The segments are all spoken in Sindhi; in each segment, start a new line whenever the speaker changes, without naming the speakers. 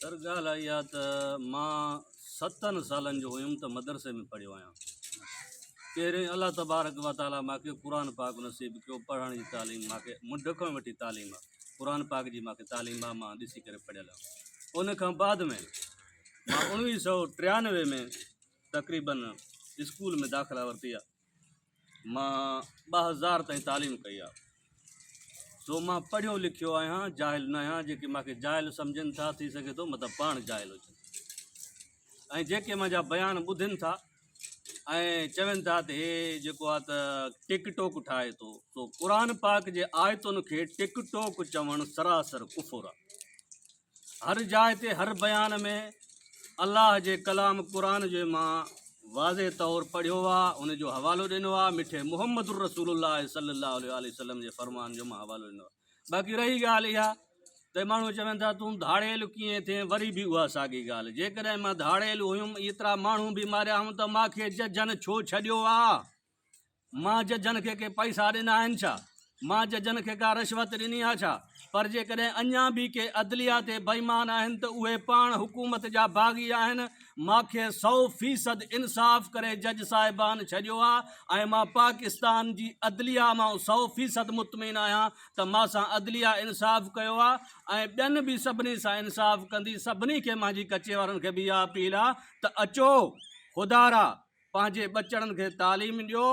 سر ڳالهه اها آهي ته مان ستن سالن جو هيم ته مدرسي ۾ پڙهيو آهيان پهرين الله تبارڪ و تعالٰي ماکي قرآن پاڪ نصيب ڪيو پڙهڻ جي تعليم ماکي مڍ کان وٺي تعليم آ قرآن پاڪ جي ماکي تعليم آ مان ڏسي ڪري پڙهيل آهيان ان کان بعد ۾ مان اڻويهه سو ٽيانوي ۾ تقريبن اسڪول ۾ داخلا ورتي آ مان ٻه هزار تائين تعليم ڪئي آ سو مان پڙهيو لکيو آهيان جاهل نه آهيان جيڪي مون کي جاهل سمجهن ٿا ٿي سگهي ٿو مطلب پاڻ جاهل هجن ۽ جيڪي منهنجا بيان ٻڌن ٿا ۽ چون ٿا ته هي جيڪو آ ته ٽڪ ٽوڪ ٺاهي ٿو سو قرآن پاڪ جي آيتن کي ٽڪ ٽوڪ چوڻ سراسر ڪفر آ هر جاء تي هر بيان ۾ الله جي ڪلام قرآن جو مان واضح طور پڙهيو آ ان جو حوالو ڏنو آ مٺي محمد الرسول الله صلي الله عليه واٰله وسلم جي فرمان جو مان حوالو ڏنو آ باقي رهي ڳالهه اها ته ماڻهو چون ٿا تون ڌاڙيل ڪيئن ٿين وري به اها ساڳي ڳالهه جيڪڏهن مان ڌاڙيل هيم ايترا ماڻهو به ماريا هئم ته مان کي ججن ڇو ڇڏيو آ مان ججن کي ڪي پئسا ڏنا آهن ڇا؟ مان ججن کي ڪا رشوت ڏني آهي ڇا؟ پر جيڪڏهن اڃا به ڪي عدليه تي بيمان آهن ته اهي پاڻ حڪومت جا باغي آهن، مان کي سؤ فيصد انصاف ڪري جج صاحبان ڇڏيو آهي ۽ مان پاڪستان جي عدليه مان سؤ فيصد مطمئن آهيان ته مان سان عدليه انصاف ڪيو آهي ۽ ٻين به سڀني سان انصاف ڪندي، سڀني کي مانجي ڪچي وارن کي به اها اپيل آهي ته اچو خدارا. پنهنجي ٻچڙن کي تعليم ڏيو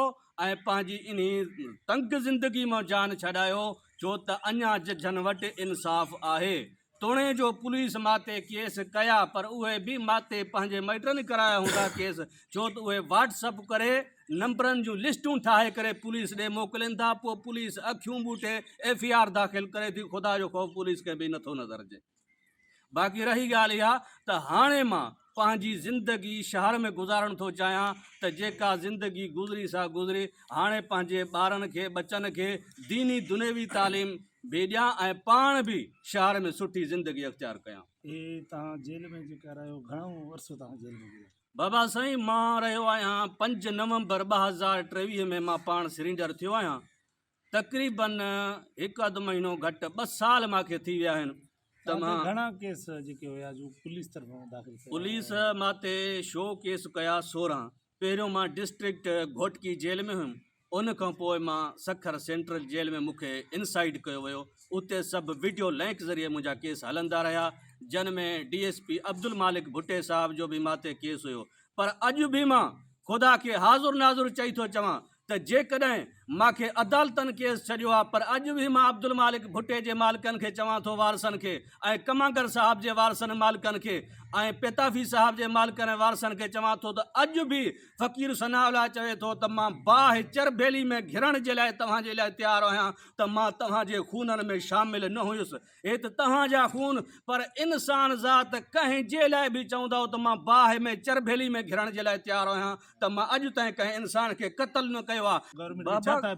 ۽ پنهنجي انهي تنگ زندگي مان جان ڇڏايو ڇو ته اڃا ججن وٽ انصاف آهي توڻي جو پوليس ماتي ڪيس ڪيا پر اهي به ماتي پنهنجي مائٽن ڪرايا هوندا ڪيس ڇو ته اهي واٽس اپ ڪري نمبرن جون لسٽون ٺاهي ڪري پوليس ڏي موڪلين ٿا پوء پوليس اکيون ٻوٽي ايف اي آر داخل ڪري ٿي خدا جو خوف پوليس کي به نٿو نظر اچي باقي رهي ڳالهه اها ته هاڻي مان پنهنجي زندگي شهر ۾ گذارڻ ٿو چاهيان ته جيڪا زندگي گذري سا گذري هاڻي پنهنجي ٻارن کي ٻچن کي ديني دنيوي تعليم به ڏيان ۽ پاڻ به شهر ۾ سٺي زندگي اختيار ڪيان. اي توهان جيل
۾ جيڪا رهيو گهڻو عرصو توهان جيل ۾ گذاريو؟ بابا سائين مان
رهيو آهيان پنج نومبر ٻه هزار ٽيويهه ۾ مان پاڻ سرينڊر ٿيو آهيان. تقريبن هڪ اڌ مهينو گهٽ ٻه سال مان کي ٿي ويا آهن ته مان گهڻا ڪيس جيڪي
هيا جو پوليس طرفان داخل ڪيا پوليس مان تي
شو ڪيس ڪيا سورهن پهريون مان ڊسٽرڪٽ گهوٽڪي جيل ۾ هيم ان کان پوء مان سکر سينٽرل جيل ۾ مون کي انسائيڊ ڪيو ويو اتي سڀ وڊيو لينڪ ذريعي منهنجا ڪيس هلندا رهيا جن ۾ D S P Abdulmalik Bhatti صاحب جو به مان تي ڪيس هيو پر اڄ به مان خدا کي حاضر ناظر چئي ٿو چوان ته جيڪڏهن مان کي عدالتن ڪيس ڇڏيو ها پر اڄ به مان عبدالمالڪ ڀٽي جي مالڪن کي چوان ٿو وارثن کي ۽ ڪمانگر صاحب جي وارثن ۽ مالڪن کي ۽ پيتافي صاحب جي مالڪن ۽ وارثن کي چوان ٿو ته اڄ به فقير ثناء الله چوي ٿو ته مان باهه چربيلي ۾ گهرڻ جي لاء توهان جي لاء تيار آهيان ته مان توهان جي خونن ۾ شامل نه هيس هت توهان جا خون پر انسان ذات ڪنهن جي لاء به چوندؤ ته مان باهه ۾ چرڀيلي ۾ گهڙڻ جي لاء تيار آهيان ته مان اڄ تائين ڪنهن انسان کي قتل نه ڪيو آ بابا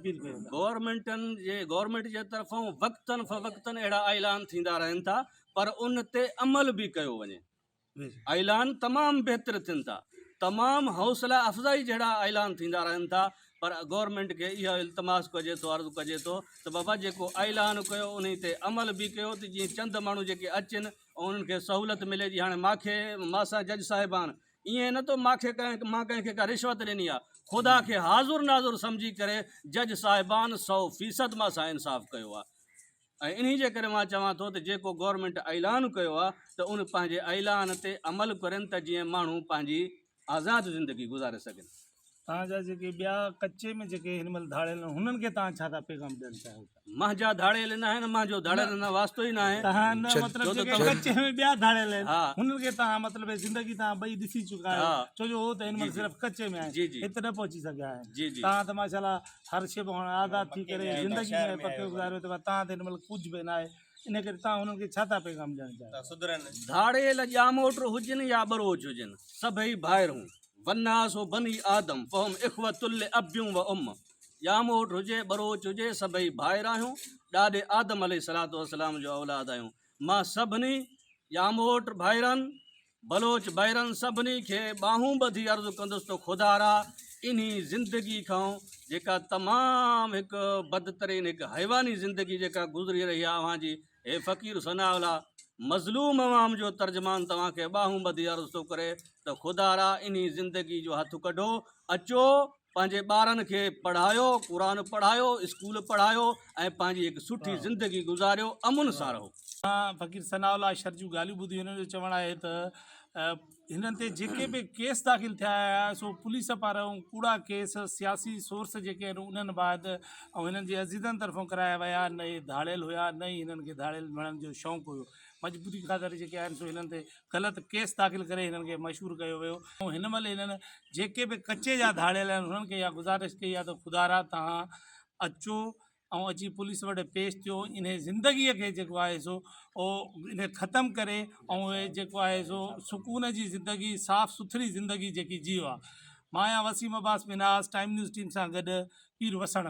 گورنمينٽن جي گورنمينٽ جي طرفون وقتن فوقتن اهڙا اعلان ٿيندا رهن ٿا پر ان تي عمل به ڪيو وڃي. اعلان تمام بهتر ٿين ٿا تمام حوصله افزائي جهڙا اعلان ٿيندا رهن ٿا پر گورنمينٽ کي اهو التماس ڪجي ٿو عرض ڪجي ٿو ته بابا جيڪو اعلان ڪيو انهي تي عمل به ڪيو ته جيئن چند ماڻهو جيڪي اچن انهن کي سهولت ملي جي هاڻي ماکي ماسا جج صاحبان ائين نه تو ماکي مان ڪنهن کي ڪا رشوت ڏني آ خدا کي حاضر ناظر سمجهي ڪري جج صاحبان سو فيصد ماسا انصاف ڪيو آ ۽ انهي جي ڪري مان چوان ٿو ته جيڪو گورنمينٽ اعلان ڪيو آهي ته ان پنهنجي اعلان تي عمل ڪرين ته جيئن ماڻهو پنهنجي آزاد زندگي گذاري سگهن. توهان جا جيڪي
ٻيا ڪچي ۾ جيڪي هن مهل ڌاڙيل آهن هنن کي توهان ڇا ٿا پيغام ڏيڻ چاهيو ٿا؟ منهنجا ڌاڙيل
ناهن منهنجو ڌاڙيلن سان واسطو ئي ناهي. توهان نه مطلب جيڪي
ڪچي ۾ ٻيا ڌاڙيل آهن هنن کي توهان مطلب هي زندگي توهان ٻئي ڏسي چڪا آهيو ڇو جو هو ته هن مهل صرف ڪچي ۾ آهن هت نه پهچي سگهيا آهن توهان ته ماشاء الله هر شيء کان هاڻ آزاد ٿي ڪري زندگي ۾ پڪي گذاريو ته تان تي هن مهل ڪجهه به ناهي ان ڪري تان هنن کي ڇا ٿا پيغام ڏيڻ چاهيو ڌاڙيل
ڄاموٽ
هجن يا ٻروچ هجن سڀئي ڀائرون والناس بني آدم فهم اخوة لاب و ام ڄاموٽ هجي ٻروچ هجي سڀئي ڀائر آهيون ڏاڏي آدم عليه السلام جو اولاد آهيون مان سڀني ڄاموٽ ڀائرن بلوچ ڀائرن سڀني کي ٻانهون ٻڌي عرض ڪندس ته خدارا انهي زندگي کان جيڪا تمام هڪ بدترين هڪ حيواني زندگي جيڪا گذري رهي آهي اوهان جي هي فقير ثناء الله مظلوم عوام جو ترجمان توهان کي ٻانهون ٻڌي عرض ٿو ڪري ته خدارا انهي زندگي جو هٿ ڪڍو اچو پنهنجي ٻارن کي پڙهايو قرآن پڙهايو اسڪول پڙهايو ۽ پنهنجي هڪ سٺي زندگي گذاريو امن سان رهو. اسان فقير ثناء
الله شر جون ڳالهيون ٻڌيون هن جو چوڻ آهي ته هنن تي جيڪي به ڪيس داخل ٿيا آهيا سو پوليس پارائون ڪوڙا ڪيس سياسي سورس جيڪي آهن انهن بعد ۽ هنن جي عزيزن طرفون ڪرايا ويا نه هي ڌاڙيل هيا نه ئي هنن کي ڌاڙيل مڙهڻ جو شونق هيو مضبوطي خاطر جيڪي آهن سو هنن تي غلط ڪيس داخل ڪري هنن کي مشهور ڪيو ويو ۽ هن مهل هنن جيڪي به ڪچي جا ڌاڙيل آهن هنن کي اها گذارش ڪئي آهي ته خدارا توهان اچو ۽ اچي پوليس وٽ پيش ٿيو انهي زندگي کي جيڪو آهي سو انهي ختم ڪري ۽ اهي جيڪو آهي سو سڪون جي زندگي صاف سٿري زندگي جيڪي جيو آ مان آهيان Waseem Abbas Minhas time news team سان گڏ پير وسڻ